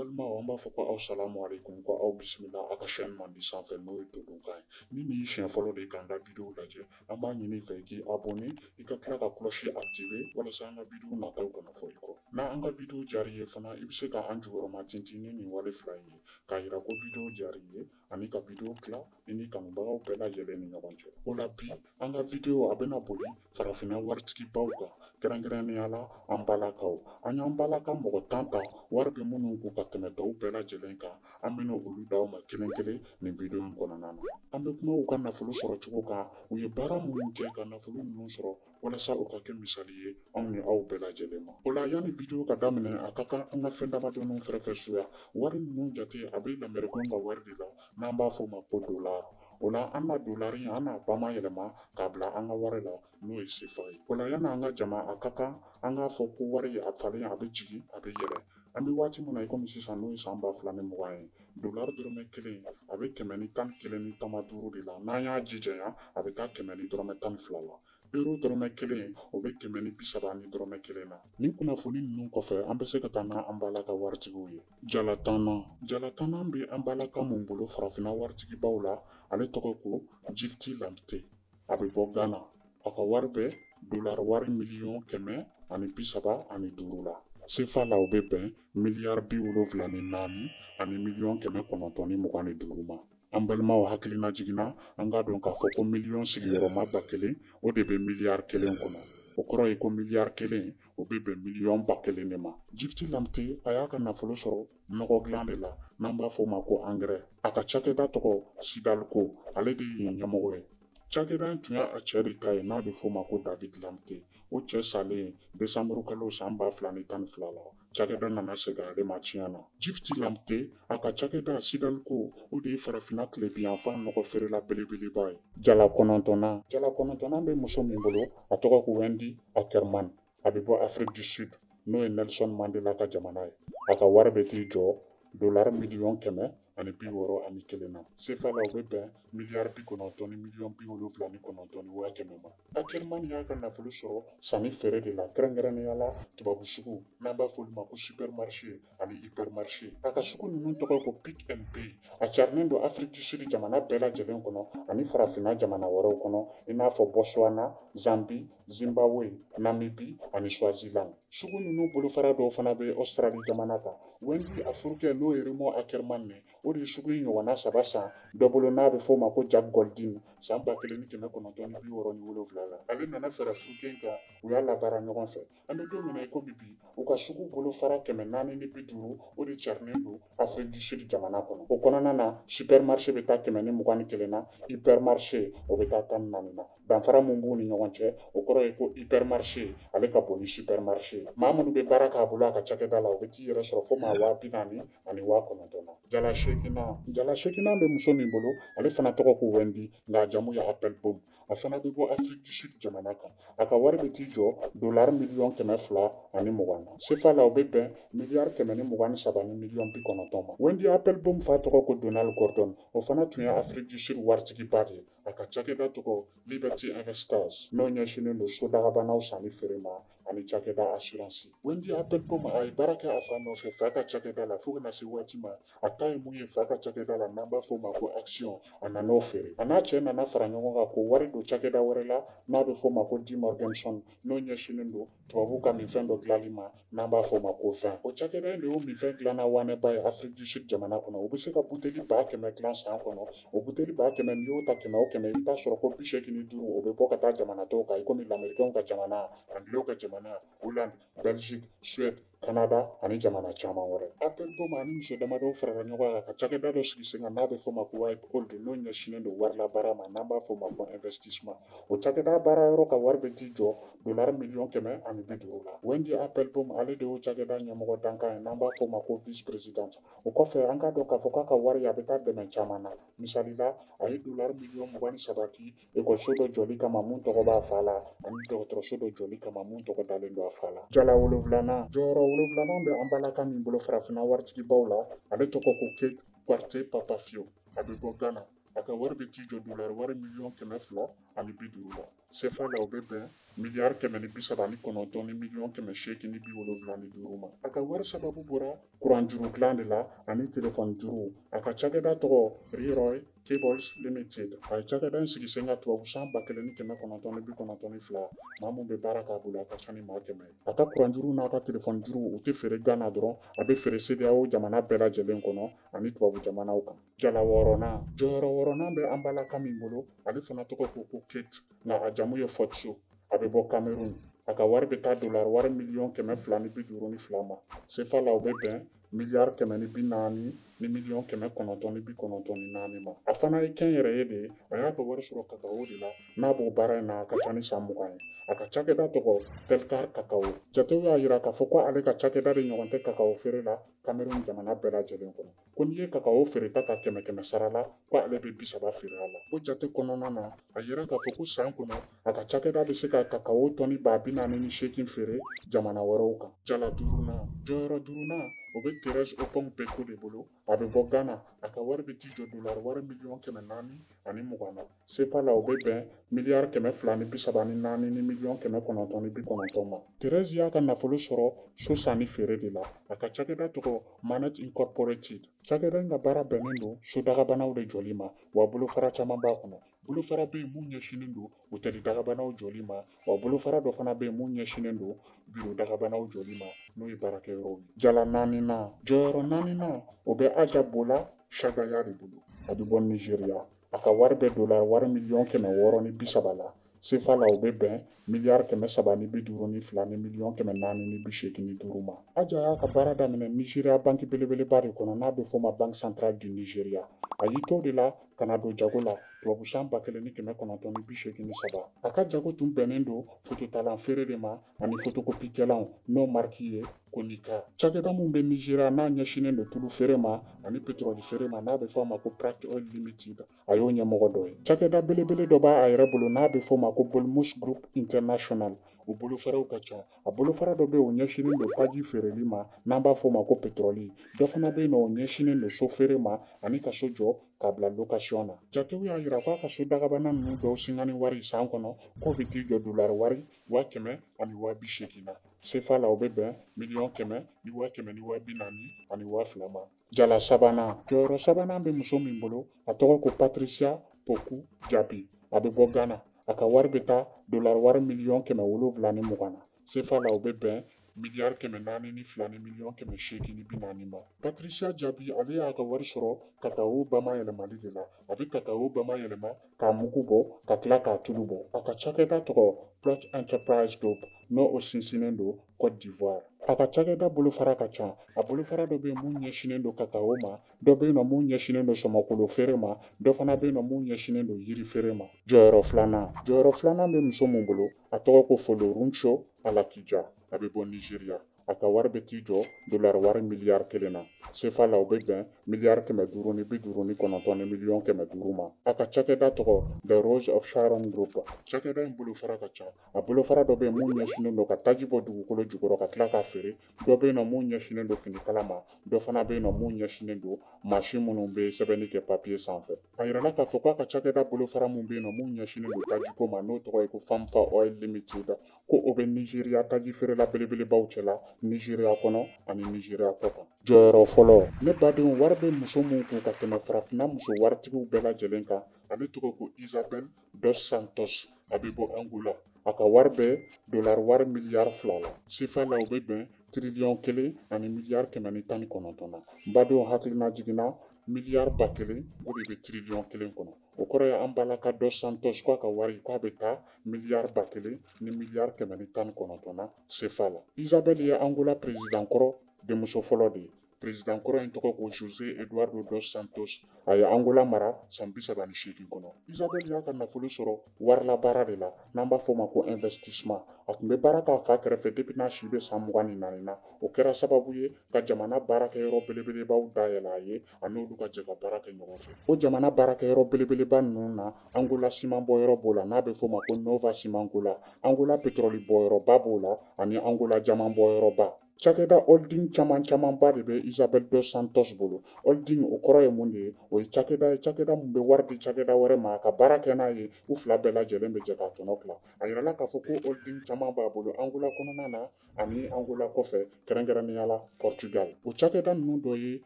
balimaw an b'a fɔ ko aw salamu aleykum ko aw bisimila aw ka chaîne mandi sanfɛ n'o ye todunkan ye ni nin ye siɲɛ fɔlɔ de ye k'an ka bidiyo lajɛ an b'a ɲini i fɛ i k'i abɔne i ka tila ka cloche activer walasa an ka bidiyo nataw kana fɔ i kɔ n'an ka bidiyo diyar'i ye fana i bɛ se ka an jukɔrɔma tintin ni nin wale fila in ye k'a yira ko bidiyo diyar'i ye ani ka video tila i ni kanubagaw bɛɛ lajɛlen ni ɲɔgɔn cɛ o la bi an ka video a bɛna boli farafinna waritigibaw kan kɛrɛnkɛrɛnnenya la an balakaw an y'an balaka mɔgɔ tan ta wari bɛ minnu kun ka tɛmɛ tɔw bɛɛ lajɛlen kan an bɛna olu d'aw ma kelen kelen nin video in kɔnɔna na an bɛ kuma u ka nafolo sɔrɔ cogo kan u ye baara minnu kɛ ka nafolo ninnu sɔrɔ walasa o ka kɛ misali ye anw ni aw bɛɛ lajɛlen ma o la yanni video ka daminɛ a ka kan an ka fɛn damadɔninw faranfasiya wari ninnu jate a bɛ lamerikɛn ka wari de la n'an b'a fɔ ma ko dolar o la an na dolari in an n'a bama yɛlɛma k'a bila an ka wari la n'o ye sefa ye o la yanni an ka jama a ka kan an k'a fɔ ko wari in a falen a bɛ jigin a bɛ yɛlɛn an bɛ waati min na i komi sisan n'o ye san ba fila ni mugan ye dolari dɔrɔmɛ kelen a bɛ kɛmɛ ni tan ni kelen ni tama duuru de la n'an y'a jijanya a bɛ taa kɛmɛ ni dɔrɔmɛ tan ni fila la euro dɔrɔmɛ kelen o bɛ kɛmɛ ni bi saba ni dɔrɔmɛ kelen na nin kunnafoni ninnu kɔfɛ an bɛ se ka taa ni an balaka waritigiw ye jala tannan jala tannan bɛ an balaka min bolo farafinna waritigibaw la ale tɔgɔ ko gifty lamptey a bɛ bɔ Ghana a ka wari bɛ dolari wari miliyɔn kɛmɛ ani bi saba ani duuru la sefa la o bɛ bɛn miliyari bi wolonfila ni naani ani miliyɔn kɛmɛ kɔnɔntɔn ni mugan ni duuru ma an balimaw hakilinajigin na an k'a dɔn k'a fɔ ko miliyɔn sigiyɔrɔma ba kelen o de bɛ miliyari kelen kɔnɔ o kɔrɔ ye ko miliyari kelen o bɛ bɛn miliyɔn ba kelen de ma gifty lamptey a y'a ka nafolo sɔrɔ nɔgɔ dilan de la n'an b'a fɔ o ma ko angɛrɛ a ka cakɛda tɔgɔ sidalco ale de ye ɲɛmɔgɔ ye cakɛda in tun y'a cɛ de ta ye n'a bɛ fɔ o ma ko david lamptey o cɛ salen desanburu kalo san ba fila ni tan ni fila la cakɛda nana segin ale ma tiɲɛ na gifty lamptey a ka cakɛda sidalco o de ye farafinna tilebinyanfan nɔgɔ feerela belebeleba ye jala kɔnɔntɔnnan jala kɔnɔntɔnnan bɛ muso min bolo a tɔgɔ ko wendy ackerman a bɛ bɔ afiriki du sud n'o ye nelson mandela ka jamana ye a ka wari bɛ t'i jɔ dolari miliyɔn kɛmɛ ani bi wɔɔrɔ ani kelen na sefa la o bɛ bɛn miliyari bi kɔnɔntɔn ni miliyɔn bi wolonfila ni kɔnɔntɔn ni waa kɛmɛ ma ackerman y'a ka nafolo sɔrɔ sanni feere de la kɛrɛnkɛrɛnnenya la tubabu sugu n'an b'a f'olu ma ko supermarché ani hypermarché a ka sugu ninnu tɔgɔ ko pick and pay a carilen don afiriki du sud jamana bɛɛ lajɛlen kɔnɔ ani farafinna jamana wɛrɛw kɔnɔ i n'a fɔ botswana zambi zimbabwe namibi ani swaziland sugu ninnu bolofara dɔw fana bɛ australi jamana kan wendy a furukɛ n'o ye raymond ackerman ye o de ye sugu in ɲɔgɔnna saba san dɔ bolo n'a bɛ f'o ma ko jack goldin san ba kelen ni kɛmɛ kɔnɔntɔn ni bi wɔɔrɔ ni wolonwula la ale nana fara a furukɛ kan u y'a labaara ɲɔgɔn fɛ an bɛ don min na i ko bi bi u ka sugu bolofara kɛmɛ naani ni bi duuru o de carinen don afiriki du sud jamana kɔnɔ o kɔnɔna na supermarché bɛ taa kɛmɛ ni mugan ni kelen na hypermarché o bɛ taa tan ni naani na danfara min b'u ni ɲɔgɔn cɛ o kɔrɔ ye ko hypermarché ale ka bon ni supermarché ye maa minnu bɛ baara k'a bolo a ka cakɛda la u bɛ t'i yɛrɛ sɔrɔ fo maa waa bi naani ani waa kɔnɔntɔn na jala seeginnan jala seeginnan bɛ muso min bolo ale fana tɔgɔ ko wendy nka a jamu ye appelbaum a fana bɛ bɔ afiriki du sud jamana kan a ka wari bɛ t'i jɔ dolari miliyɔn kɛmɛ fila ani mugan na sefa la o bɛ bɛn miliyari kɛmɛ ni mugan ni saba ni miliyɔn bi kɔnɔntɔn ma wendy appelbaum fa tɔgɔ ko donald gordon o fana tun ye afiriki du sud waritigiba de ye a ka cakɛda tɔgɔ liberty investors n'o ɲɛsinnen don sodagabanaw sanni feere ma ani cakɛda asiransi wendy appelbaum a ye baara kɛ a fa nɔfɛ fa ka cakɛda la fo ka na se waati ma a ta ye min ye fa ka cakɛda la n'an b'a fɔ o ma ko action a nana o feere a n'a cɛ nana fara ɲɔgɔn kan k'o wari don cakɛda wɛrɛ la n'a bɛ fɔ o ma ko demorgenzon n'o ɲɛsinnen don tubabu ka minfɛn dɔ dilanli ma n'an b'a fɔ o ma ko vin o cakɛda in de y'o minfɛn dilanna wanɛba ye afiriki du sud jamana kɔnɔ o bɛ se ka buteli ba kɛmɛ dilan san kɔnɔ o buteli ba kɛmɛ n'i y'o ta kɛmɛ o kɛmɛ i bɛ t'a sɔrɔ ko bi seegin ni duuru o bɛ bɔ ka taa jamana tɔw kan i komi lamerikanw ka jamana angilew ka jamana holand belgique suède kanada ani jamana caman wɛrɛ a tɛ dan o ma a ni muso damadɔw farala ɲɔgɔn kan ka cakɛda dɔ sigi sen kan n'a bɛ fɔ ma ko wiphold n'o ɲɛsinnen don wari labaara ma n'an b'a fɔ ma ko investissement o cakɛda baara yɔrɔ ka wari bɛ t'i jɔ dolari miliyɔn kɛmɛ ani bi duuru la wendy appelbaum ale de y'o cakɛda ɲɛmɔgɔ dankan ye n'an b'a fɔ ma ko vice présidente o kɔfɛ an k'a dɔn k'a fɔ k'a ka wari a bɛ taa dɛmɛ caman na misali la a ye dolari miliyɔn mugan ni saba di ekɔliso dɔ jɔli kama min tɔgɔ b'a fa la ani dɔgɔtɔrɔso dɔ jɔli kama min tɔgɔ dalen don a fa la jala wolonwulanan jɔyɔrɔ wolonwulanan bɛ an balaka min bolo farafinna waritigibaw la ale tɔgɔ ko kate quartey papafio a bɛ bɔ gana a ka wari bɛ t'i jɔ dolari wari miliyɔn kɛmɛ fila ani bi duuru la Sefa la o bɛ bɛn miliyari kɛmɛ ni bi saba ni kɔnɔntɔn ni miliyɔn kɛmɛ seegin ni bi wolonwula ni duuru ma a ka wari sababu bɔra kuran juru dilan de la ani telefɔni juru a ka cakɛda tɔgɔ reroy cables limited a ye cakɛda in sigi sen kan tubabu san ba kelen ni kɛmɛ kɔnɔntɔn ni bi kɔnɔntɔn ni fila maa min bɛ baara k'a bolo a ka ca ni maa kɛmɛ ye a ka kuran juruw n'a ka telefɔni juruw u tɛ feere gana dɔrɔn a bɛ feere sedeyawo jamana bɛɛ lajɛlen kɔnɔ ani tubabu jamanaw kan jala wɔɔrɔnan jɔyɔrɔ wɔɔrɔnan bɛ an balaka min bolo ale fana tɔgɔ ko ko kate nka a jamu ye fotso a bɛ bɔ kamerun a ka wari bɛ taa dolar wari miliyɔn kɛmɛ fila ni bi duuru ni fila ma sefa la o bɛ bɛn miliyari kɛmɛ ni bi naani ni miliyɔn kɛmɛ kɔnɔntɔn ni bi kɔnɔntɔn ni naani ma a fana ye kɛnyɛrɛye de ye a y'a ka wari sɔrɔ kakawo de la n'a b'o baara in na a ka ca ni san mugan ye a ka cakɛda tɔgɔ telcar kakawo jatew y'a yira k'a fɔ ko ale ka cakɛda de ɲɔgɔn tɛ kakawo feere la kamerun jamana bɛɛ lajɛlen kɔnɔ ko n'i ye kakawo feereta ka kɛmɛ kɛmɛ sara la ko ale bɛ bi saba feere a la o jate kɔnɔna na a yɛrɛ k'a fɔ ko san kɔnɔ a ka cakɛda bɛ se ka kakawo tɔni ba bi naani ni seegin feere jamana wɛrɛw kan jala duurunan jɔyɔrɔ duurunan o bɛ terɛsi oppong beeko de bolo a bɛ bɔ gana a ka wari bɛ t'i jɔ dolari wari miliyɔn kɛmɛ naani ani mugan na sefa la o bɛ bɛn miliyari kɛmɛ fila ni bi saba ni naani ni miliyɔn kɛmɛ kɔnɔntɔn ni bi kɔnɔntɔn ma terɛzi y'a ka nafolo sɔrɔ so sanni feere de la a ka cakɛda tɔgɔ manet incorporated cakɛda in ka baara bɛnnen don so dagabanaw de jɔli ma wa bolofara caman b'a kɔnɔ bolofara bɛ yen mun ɲɛsinnen don otɛri dagabanaw jɔli ma wa bolofara dɔ fana bɛ yen mun ɲɛsinnen don biro dagabanaw jɔli ma n'o ye baarakɛyɔrɔw ye jala naaninan jɔyɔrɔ naaninan o bɛ aja bola shagaya de bolo a bɛ bɔ nizeriya A ka wari bɛ dola wari miliyɔn kɛmɛ wɔɔrɔ ni bi saba la sefa la o bɛ bɛn miliyari kɛmɛ saba ni bi duuru ni fila ni miliyɔn kɛmɛ naani ni bi seegin ni duuru ma aja y'a ka baara daminɛ nizeriya banki belebeleba de kɔnɔ n'a bɛ fɔ ma banque centrale du nigeria a y'i to de la ka na don jago la tubabu san ba kelen ni kɛmɛ kɔnɔntɔn ni bi seegin ni saba a ka jago tun bɛnnen don fototalan feere de ma ani fotokopikɛlanw n'o mariki ye konica cakɛda min bɛ nizeriya n'a ɲɛsinnen don tulu feere ma ani petrɔli feere ma n'a bɛ fɔ a ma ko practoil limited a y'o ɲɛmɔgɔ dɔ ye cakɛda belebele dɔ b'a yɛrɛ bolo n'a bɛ fɔ ma ko bolmus group international o bolofaraw ka ca a bolofara dɔ bɛ o ɲɛsinnen don taji feereli ma n'an b'a fɔ ma ko petrɔli dɔ fana bɛ yen nɔ o ɲɛsinnen don so feere ma ani ka so jɔ k'a bila lokasiyɔn na jatew y'a jira k'a ka so dagabana ninnu dɔw singani wari san kɔnɔ k'o bɛ t'i jɔ dolari wari waa kɛmɛ ani waa bi seegin na sefa la o bɛ bɛn miliyɔn kɛmɛ ni waa kɛmɛ ni waa bi naani ani waa fila ma jala sabanan jɔyɔrɔ sabanan bɛ muso min bolo a tɔgɔ ko patricia poku diaby a bɛ bɔ ghana a ka wari bɛ taa dolari wari miliyɔn kɛmɛ wolonwula ni mugan na sefa la o bɛ bɛn miliyari kɛmɛ naani ni fila ni miliyɔn kɛmɛ seegin ni bi naani ma patricia diaby ale y'a ka wari sɔrɔ kakawo bamayɛlɛmali de la a bɛ kakawo bamayɛlɛma k'a mugu bɔ ka tila k'a tulu bɔ a ka cakɛda tɔgɔ plot enterprise group n'o sinsinnen don cote d'ivoire a ka cakɛda bolofara ka ca a bolofara dɔ bɛ yen mun ɲɛsinnen don kakawo ma dɔ bɛ yen nɔ mun ɲɛsinnen don sɔmɔkolo feere ma dɔ fana bɛ yen nɔ mun ɲɛsinnen don yiri feere ma jɔyɔrɔ filanan jɔyɔrɔ filanan bɛ muso mun bolo a tɔgɔ ko folorunsho alakija a bɛ bɔ nizeriya a ka wari bɛ t'i jɔ dolari wari miliyari kelen na sefa la o bɛ bɛn miliyari kɛmɛ duuru ni bi duuru ni kɔnɔntɔn ni miliyɔn kɛmɛ duuru ma a ka cakɛda tɔgɔ the rose of sharon group cakɛda in bolofara ka ca a bolofara dɔ bɛ yen mun ɲɛsinnen don ka taji bɔ dugukolo jukɔrɔ ka tila k'a feere dɔ bɛ yen nɔ mun ɲɛsinnen don finikala ma dɔ fana bɛ yen nɔ mun ɲɛsinnen don mansin minnu bɛ sɛbɛnni kɛ papiye sanfɛ a yirala k'a fɔ k'a ka cakɛda bolofara min bɛ yen nɔ mun ɲɛsinnen don tajiko ma n'o tɔgɔ ye ko famfa oil limited ko o bɛ nizeriya taji feerela belebelebaw cɛla nizeriya kɔnɔ ani nizeriya kɔ kan jɔyɔrɔ fɔlɔ ne badenw wari bɛ muso min kun ka tɛmɛ farafinna muso waritigiw bɛɛ lajɛlen kan ale tɔgɔ ko isabɛl Dos Santos a bɛ bɔ Angola a ka wari bɛ dolari wari miliyari fila la sefa la o bɛ bɛn tiriliyɔn kelen ani miliyari kɛmɛ ni tan ni kɔnɔntɔn na badenw hakilina jiginna miliyari ba kelen o de bɛ tiriliyɔn kelen kɔnɔ o kɔrɔ ye an bala ka Dos Santos k'a ka wari k'a bɛ taa miliyari ba kelen ni miliyari kɛmɛ ni tan ni kɔnɔntɔn na sefa la isabɛli ye angola perezidant kɔrɔ denmuso fɔlɔ de ye President kɔrɔ in tɔgɔ ko Jose Eduardo dos Santos a ye Angola mara san bi saba ni seegin kɔnɔ. Isabel y'a ka nafolo sɔrɔ warilabaara de la n'an b'a fɔ ma ko investissement. A tun bɛ baara k'a fa kɛrɛfɛ depuis n'a si bɛ san mugan ni naani na. O kɛra sababu ye ka jamana baarakɛyɔrɔ belebelebaw dayɛlɛ a ye a n'olu ka jɛ ka baara kɛ ɲɔgɔn fɛ. O jamana baarakɛyɔrɔ belebeleba ninnu na Angola siman bɔyɔrɔ b'o la n'a bɛ fɔ ma ko Nova Cimangola, Angola petrɔli bɔyɔrɔba b'o la ani Angola jaman bɔyɔrɔba. cakɛda holding caman camanba de bɛ isabɛl dos santos bolo holding o kɔrɔ ye mun de ye o ye cakɛda ye cakɛda min bɛ wari di cakɛda wɛrɛ ma ka baara kɛ n'a ye u fila bɛɛ lajɛlen bɛ jɛ ka tɔnɔ tila a yirala k'a fɔ ko holding caman b'a bolo angola kɔnɔna na ani angola kɔfɛ kɛrɛnkɛrɛnnenya la portugal o cakɛda ninnu dɔ ye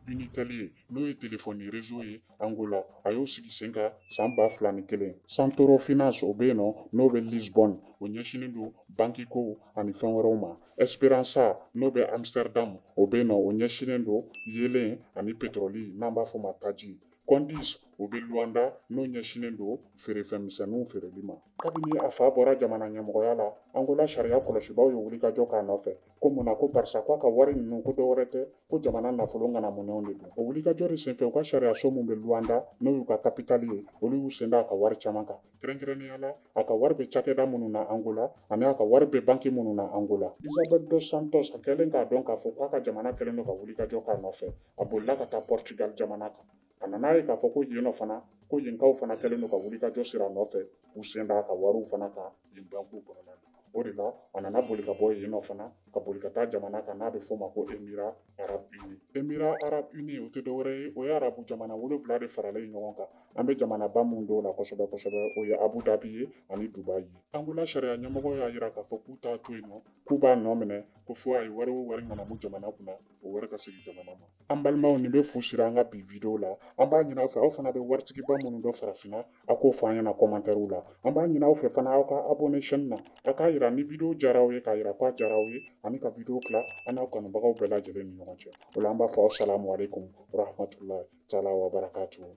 unitel ye n'o ye telefɔni rezo ye Angola a y'o sigi sen kan san ba fila ni kelen santoro finance o bɛ yen nɔ n'o bɛ lisbonne o ɲɛsinnen don bankikow ani fɛn wɛrɛw ma esperansa n'o bɛ amsterdam o bɛ yen nɔ o ɲɛsinnen don yeelen ani petroli n'an b'a fɔ ma taji condis o bɛ luanda n'o ɲɛsinnen don feerefɛnmisɛnninw feereli ma kabini a fa bɔra jamana ɲɛmɔgɔya la angola sariya kɔlɔsibaaw ye wulikajɔ k'a nɔfɛ ko mun na ko barisa ko a ka wari ninnu ko dɔwɛrɛ tɛ ko jamana nafolo ŋanamunenw de don o wulikajɔ de senfɛ u ka sariyaso min bɛ luwanda n'o y'u ka kapitali ye olu y'u sen da a ka wari caman kan kɛrɛnkɛrɛnnenya la a ka wari bɛ cakɛda minnu na angola ani a ka wari bɛ banki minnu na angola isabel dos santos a kɛlen k'a dɔn k'a fɔ k'a ka jamana kɛlen don ka wulikajɔ k'a nɔfɛ a bolila ka taa portugal jamana kan a nana ye k'a fɔ ko yen nɔ fana ko yenkaw fana kɛlen don ka wulikajɔ sir'a nɔfɛ u sen d'a ka wariw fana kan yen bankiw kɔnɔna na o de la a nana boli ka bɔ yen nɔ fana ka boli ka taa jamana kan n'a bɛ f'o ma ko émirats arabes unis émirats arabes unis o tɛ dɔwɛrɛ ye o ye arabu jamana wolonwula de faralen ɲɔgɔn kan an bɛ jamanaba minnu dɔn u la kosɛbɛ kosɛbɛ o ye abu dhabi ye ani dubai ye angola sariya ɲɛmɔgɔ y'a jira k'a fɔ k'u t'a to yen nɔ k'u b'a nɔ minɛ ko fo a ye wari o wari ŋanamu jamana kunna o wari ka segin jamana ma an balimaw nin bɛ fu siri an ka bi video la an b'a ɲini aw fɛ aw fana bɛ waritigiba minnu dɔn farafinna a k'o fɔ an ɲɛna kɔmantɛriw la an b'a ɲini aw fɛ fana aw ka abone chaîne na a k'a yira ni video diyara aw ye k'a yira k'a diyara aw ye ani ka video tila a n'aw kanubagaw bɛɛ lajɛlen ni ɲɔgɔn cɛ o la an b'a fɔ asalamu aleykum warahmatulahi taala wabarakatuhu